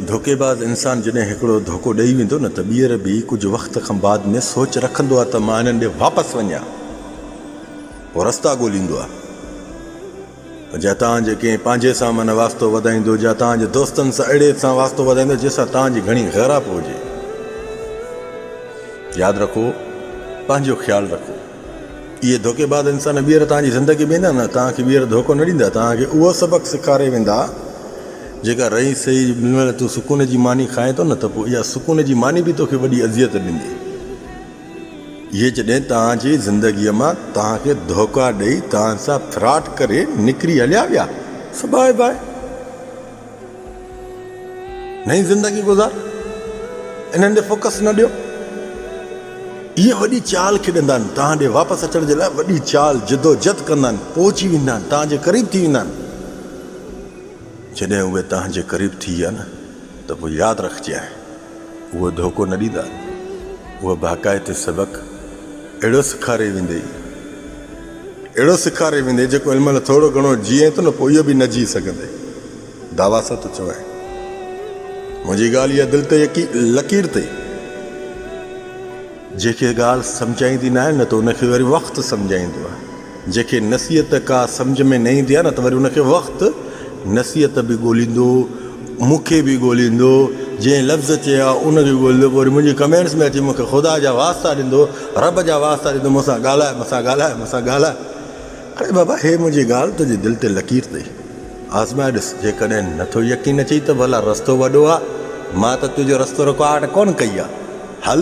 ڌوڪي باز انسان جڏهن هڪڙو ڌوڪو ڏئي ويندو نه ته ٻيهر به ڪجهه وقت کان بعد ۾ سوچ رکندو آهي ته مان هنن ڏي واپس وڃان پوء رستا ڳوليندو آهي پر جا توهان جي ڪنهن پنهنجي سان من واسطو وڌائيندو جا توهان جي دوستن سان اهڙي سان واسطو وڌائيندو جنهن سان توهان جي گهڻي غيراب هجي ياد رکو پنهنجو خيال رکو اهي ڌوڪيباز انسان ٻيهر توهان جي زندگي ۾ ايندا نه، توهان کي ٻيهر ڌوڪو نه ڏيندا، توهان کي اهو سبق سيکاري ويندا، جيڪا رئي سهي جي مهل تون سڪون جي ماني کائين ٿو نه ته پوء اها سڪون جي ماني به توکي وڏي اذيت ڏيندي. اهي جڏهن توهان جي زندگيء مان توهان کي ڌوڪا ڏئي توهان سان فراڊ ڪري نڪري هليا ويا سو باء باء. نئين زندگي گذار انهن ڏي فوڪس نه ڏيو اهي وڏي چال کيڏندا آهن توهان ڏي واپس اچڻ جي لاء وڏي چال جدوجھد ڪندا آهن پهچي ويندا آهن توهان جي قريب ٿي ويندا آهن جڏهن اهي توهان جي قريب ٿي ويا نه ته پوء ياد رکجي آهي اهو ڌوڪو نه ڏيندا اهو باقاعدي سبق اهڙو سکاري ويندي اهڙو سيکاري ويندي جيڪو ان مهل ٿورو گهڻو جيئين ٿو نه پوء اهو به نه جيئي سگهندي دعويٰ سان ٿو چوين منهنجي ڳالهه اها دل تي يقين لڪير تي جيڪي ڳالهه سمجهائيندي نه آهي نه ته ان کي وري وقت سمجهائيندو آهي جيڪي نصيحت ڪا سمجهه ۾ نه ايندي آهي نه ته وري ان کي وقت نصيحت به ڳوليندو مون کي به ڳوليندو جنهن لفظ چيا ان کي ڳوليندو پوء وري منهنجي ڪمينٽس ۾ اچي مون کي خدا جا واسطا ڏيندو رب جا واسطا ڏيندو مون سان ڳالهاء مون سان ڳالهاء مون سان ڳالهاء اڙي بابا هي منهنجي ڳالهه تنهنجي دل تي لڪير اٿئي آزمائي ڏس جيڪڏهن نٿو يقين اچئي ته ڀلا رستو وڏو آ مان ته تنهنجو رستو رڪارڊ ڪونه ڪئي آ هل